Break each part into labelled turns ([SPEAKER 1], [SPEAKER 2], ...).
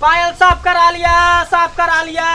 [SPEAKER 1] पायल साफ करा लिया साफ करा लिया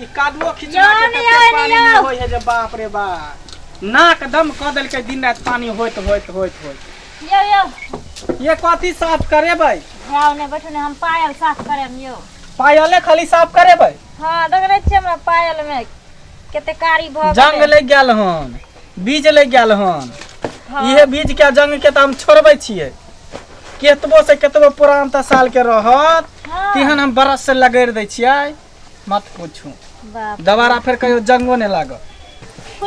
[SPEAKER 1] ई कादुओ खिचवा के योनी, तते योनी, पानी में यो। होय है जे बाप रे बा नाक दम क देल के दिन रात पानी होइत होइत होइत होइत यो यो
[SPEAKER 2] ये कथी साफ
[SPEAKER 1] करेबै जाओ ने बैठो ने
[SPEAKER 2] हम पायल साफ करम यो पायले खाली
[SPEAKER 1] साफ करेबै हाँ देख रहे छियै
[SPEAKER 2] हमरा पायल में कते कारी भऽ जंग गेलै लग गेल हन
[SPEAKER 1] बीज लागि गेल हन इहे बीज के जंग के तऽ हम छोड़बै छियै केतबो से केतबो पुरान तऽ साल के रहत तेहन हम बरस से लगैर दै छियै मत पूछू बाप दोबारा फेर कहियो जंगो नहि लागत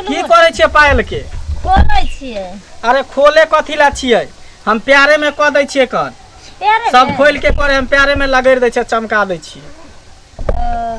[SPEAKER 1] की करै छियै पायल के खोलै
[SPEAKER 2] छियै अरे खोले
[SPEAKER 1] कथी ला छियै हम प्यारे में कऽ दै छियै कर प्यारे सब खोल के करे हम प्यारे में लगैर दै छियै चमका दै छियै ओ,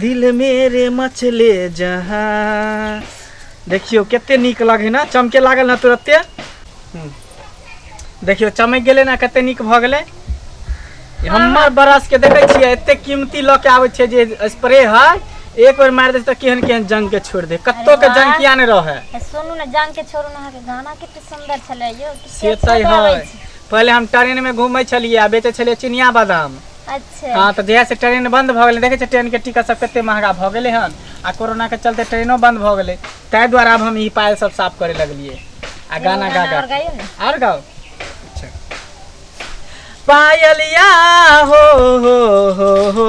[SPEAKER 1] दिल मेरे मचले जहाँ देखियो कते निक लगे ना चमके लागल ना तुरते हम्म। देखियो चमक गए ना कते निक भ गए हमर बरस के देखे छियै एते कीमती लऽ के आबै छै जे स्प्रे है एक बार मार दे तो केहन केहन जंग के छोड़ दे कत्तो के जंग किया ने रहे सुनू ना
[SPEAKER 2] जंग के छोड़ू ना के गाना कते सुंदर छले यो से
[SPEAKER 1] तै है पहले हम ट्रेन में घूमै छलिए आ बेचे छलिए चिनिया बादाम अच्छा हाँ तो
[SPEAKER 2] जहिया से ट्रेन
[SPEAKER 1] बंद भऽ गेलै देखै छै ट्रेन के टिकट सब कते महंगा भऽ गेलै हन आ कोरोना के चलते ट्रेनो बंद भऽ गेलै ताहि दुआरे आब हम ई पायल सब साफ करे लगलिए आ गाना गा गा के। और गाओ अच्छा। पायलिया हो हो हो हो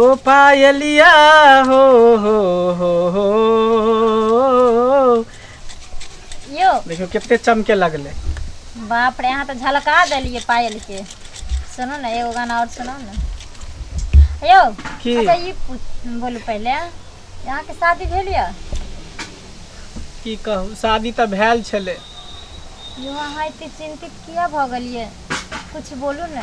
[SPEAKER 1] ओ पायलिया हो
[SPEAKER 2] हो हो हो यो देखियो कते चमके
[SPEAKER 1] लगले बाप
[SPEAKER 2] रे यहाँ तो झलका देलिए पायल के सुनो ना एगो गाना और सुनो ना यो की? अच्छा ये पूछ- बोलू पहले यहाँ के शादी भेल या
[SPEAKER 1] की कहू शादी तऽ भेल छलै यो
[SPEAKER 2] अहाँ एते चिंतित किया भऽ गेलिए कुछ बोलू ना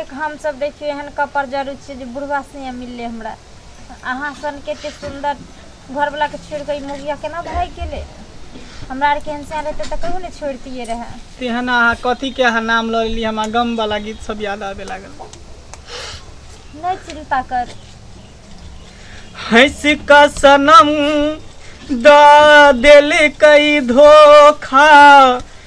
[SPEAKER 2] एक हम सब देखियो एहन कपर जरूर छी जे बुढ़वा से मिलले हमरा अहाँ सन के ते सुंदर घर वाला के छोड़ के मुगिया केना भाग गेले हमरा आर के एहन से रहते त कहियो ने छोड़तिए रहे तेहन अहाँ कथी
[SPEAKER 1] के अहाँ नाम ल लेली हमरा गम वाला गीत सब याद आवे लागल
[SPEAKER 2] नहीं चिंता कर हंस
[SPEAKER 1] का सनम दा दिल कई धोखा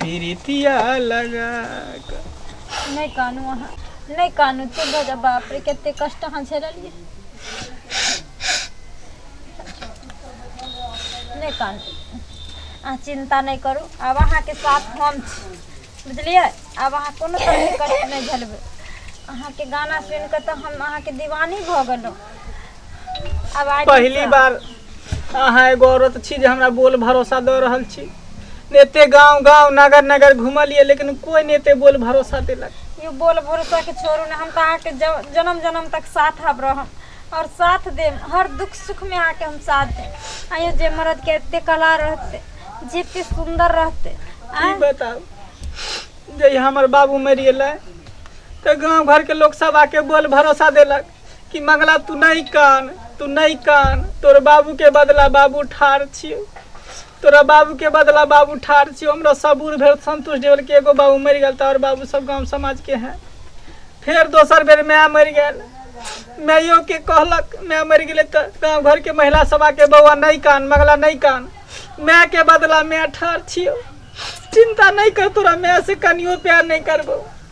[SPEAKER 1] प्रीतिया लगा के नहि कानू अहाँ
[SPEAKER 2] नहि कानू चुप भऽ जाउ बाप रे कते कष्ट अहाँ झेललियै नहि कानू अहाँ चिन्ता नहि करू आब अहाँके साथ हम छी बुझलियै आब अहाँ कोनो तरहके कष्ट नहि झेलबै अहाँके गाना सुनि कऽ तऽ हम अहाँके दीवानी भऽ गेलहुँ आवाज पहली ऊपर।
[SPEAKER 1] बार अहाँ एगो औरत छी जे हमरा बोल भरोसा दऽ रहल छी ने एते गांव गांव नगर नगर घुमलिए लेकिन कोई ने एते बोल भरोसा देलक यौ बोल भरोसा
[SPEAKER 2] के छोड़ू ने हम तऽ अहाँके ज- जन्म जन्म तक साथ हब रहम और साथ देम हर दुख सुख में अहाँके हम साथ देम आयो जे मर्द के एते कला रहते जे एते सुंदर रहते की आँय? बताउ
[SPEAKER 1] जे हमर बाबू मरि गेलै तऽ गांव घर के लोग सब आके बोल भरोसा देलक कि मंगला तू नहीं कान तू नहीं कान तोर बाबू के बदला बाबू ठार छियो तोरा बाबू के बदला बाबू ठार छियो हमरा सबूर भेल संतोष देवल के एगो बाबू मरि गेल तऽ और बाबू सब गांव समाज के हैं फेर दोसर बेर माय मरि गेल माइयो के कहलक माय मरि गेलै तऽ गांव घर के महिला सभा के बौआ नहीं कान मंगला नहीं कान माय के बदला माय ठार छियो चिंता नहीं कर तोरा माय से कनियो प्यार नहीं करबो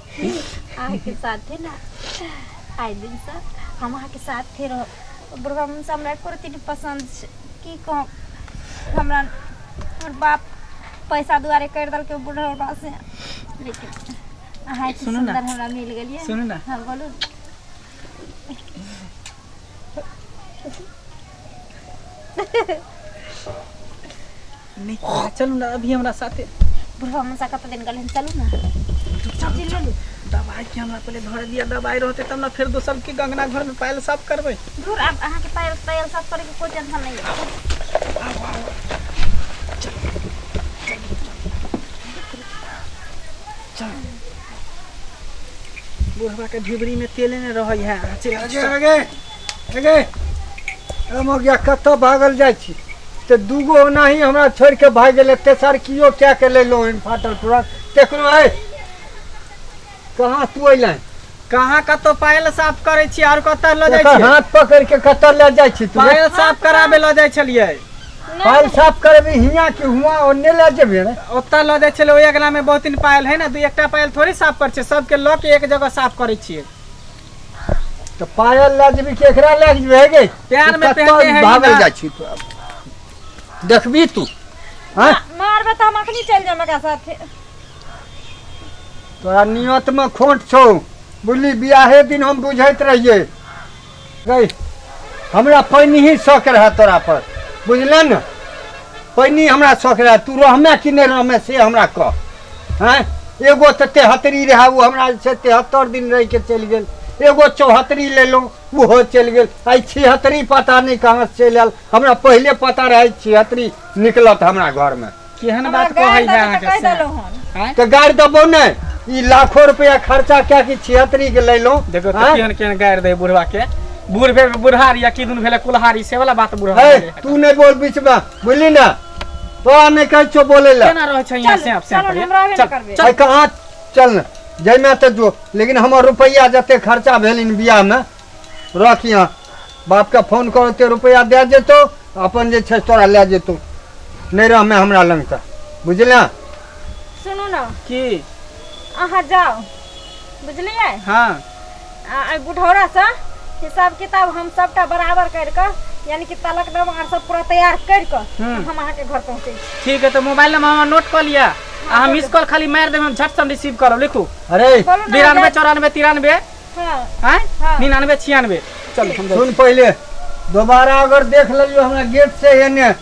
[SPEAKER 2] अहाँके साथे ना आइ दिन से हम अहाँके साथे रह ब्रह्म से हमरा एको रति नहि पसन्द छै की कहब हमरा हमर बाप पैसा दुआरे कर देलकै बुढ़ौबा से लेकिन अहाँ एते सुनू ना। सुन्दर हमरा मिल गेलियै सुनू ना। हँ बोलू
[SPEAKER 1] नहीं तो चलू ना अभी हमरा साथे बुढ़वा मसा कत
[SPEAKER 2] दिन गलन चलू ना चल चल दवाई के
[SPEAKER 1] हमरा पहले धर दिया दवाई रहते तब ना फिर दोसर के गंगना घर में पायल साफ करबे दूर अब अहाँ के पायल
[SPEAKER 2] पायल सब करे के कोई टेंशन नहीं है
[SPEAKER 1] बुढ़वा के ढिबरी में तेले ने रहै है आगे आगे
[SPEAKER 3] गया कतऽ भागल जाइ छी तऽ दूगो ओनाही हमरा छोड़ि कऽ भागि गेलै तेसर किओ कए कऽ लेलहुँ हन फाटल पूरा देखलहुँ है कहाँ तू अयलै कहाँ कतौ
[SPEAKER 1] पायल साफ करै छी आर कतऽ लऽ जाइ छी हाथ पकड़ के कतऽ
[SPEAKER 3] लऽ जाइ छी तू पायल साफ कराबे लऽ
[SPEAKER 1] जाइ छलियै पायल साफ
[SPEAKER 3] करबी हियाँ कि हुआ ओन्ने लऽ जेबे ने ओतऽ लऽ जाइ छलै ओहि
[SPEAKER 1] अगलामे बहुत दिन पायल है ने दू एकटा पायल थोड़े साफ करै छै सबके लऽ के एक जगह साफ करै छियै
[SPEAKER 3] तऽ पायल लए जेबी केकरा लए जेबी हे गे पैर में तू कतऽ पहनने है
[SPEAKER 1] भागल ना। जाइ छी तू
[SPEAKER 3] आब? देखबी तू हाँ? मारबे तऽ हम
[SPEAKER 2] अखनी चलि जाएम एकरा साथे
[SPEAKER 3] तोरा नियत में खोट छौ बुझली बियाहे दिन हम बुझैत रहिए गई हमरा पैनी ही शौक रहा तोरा पर बुझले ने पैनी हमरा शौक रहा तू रहमे कि नहीं रहमे से हमरा कह हैं एगो तो तेहतरी रहा वो हमरा से तेहत्तर दिन रह के चल गए एगो चौहत्तरी ले लो वो चल गए आई छिहत्तरी पता नहीं कहाँ से चल आयल हमरा पहले पता रहे छिहत्तरी निकलत हमरा घर में केहन
[SPEAKER 1] बात कहै है अहाँ के
[SPEAKER 2] से हैं
[SPEAKER 1] तो गाड़
[SPEAKER 2] दबो ने
[SPEAKER 3] ई लाखों रुपया खर्चा क्या कि छिहत्तरी के ले लो देखो तो हैं? केहन केहन गाड़
[SPEAKER 1] दे बुढ़वा के बूढ़ भेल बुढ़ारी या किदुन भेल कुल्हारी से वाला बात बुढ़वा है तू नहीं बोल बीच में
[SPEAKER 3] बोली ना तोरा नहीं कहे छो बोले ला केना रहै छै यहाँ से आप से
[SPEAKER 1] चलो ने,
[SPEAKER 2] हम
[SPEAKER 1] रहबे
[SPEAKER 2] ने करबे। भाई कहाँ चल
[SPEAKER 3] न जैमे तो जो लेकिन हमर रुपया जते खर्चा भेल इन बियाह में रख यहाँ बाप के फोन करो ते रुपया दे जेतो अपन जे छै तोरा ले जेतो नहीं रह में हमरा लंग त बुझलिया सुनू
[SPEAKER 2] ने की
[SPEAKER 1] अहाँ
[SPEAKER 2] जाओ बुझलियै हाँ
[SPEAKER 1] आ एहि
[SPEAKER 2] बुढ़ौरासँ हिसाब किताब हम सभटा बराबर करि कऽ यानी कि तलक नाम आर सब पूरा तैयार करि कऽ हम्म। हम अहाँके घर पहुँचै छी ठीक है तो मोबाइल नंबर
[SPEAKER 1] हमारा नोट कर लिया आ हम मिस कॉल खाली मार देबे हम झट से हम रिसीव करब लिखू अरे बोलू ना बिरानवे
[SPEAKER 3] हजार-
[SPEAKER 2] चौरानवे तिरानवे
[SPEAKER 1] हाँ हैं
[SPEAKER 2] हाँ। निन्यानवे
[SPEAKER 1] छियानवे चलो हम सुन पहले
[SPEAKER 3] दोबारा अगर देख लियो हमरा गेट से एने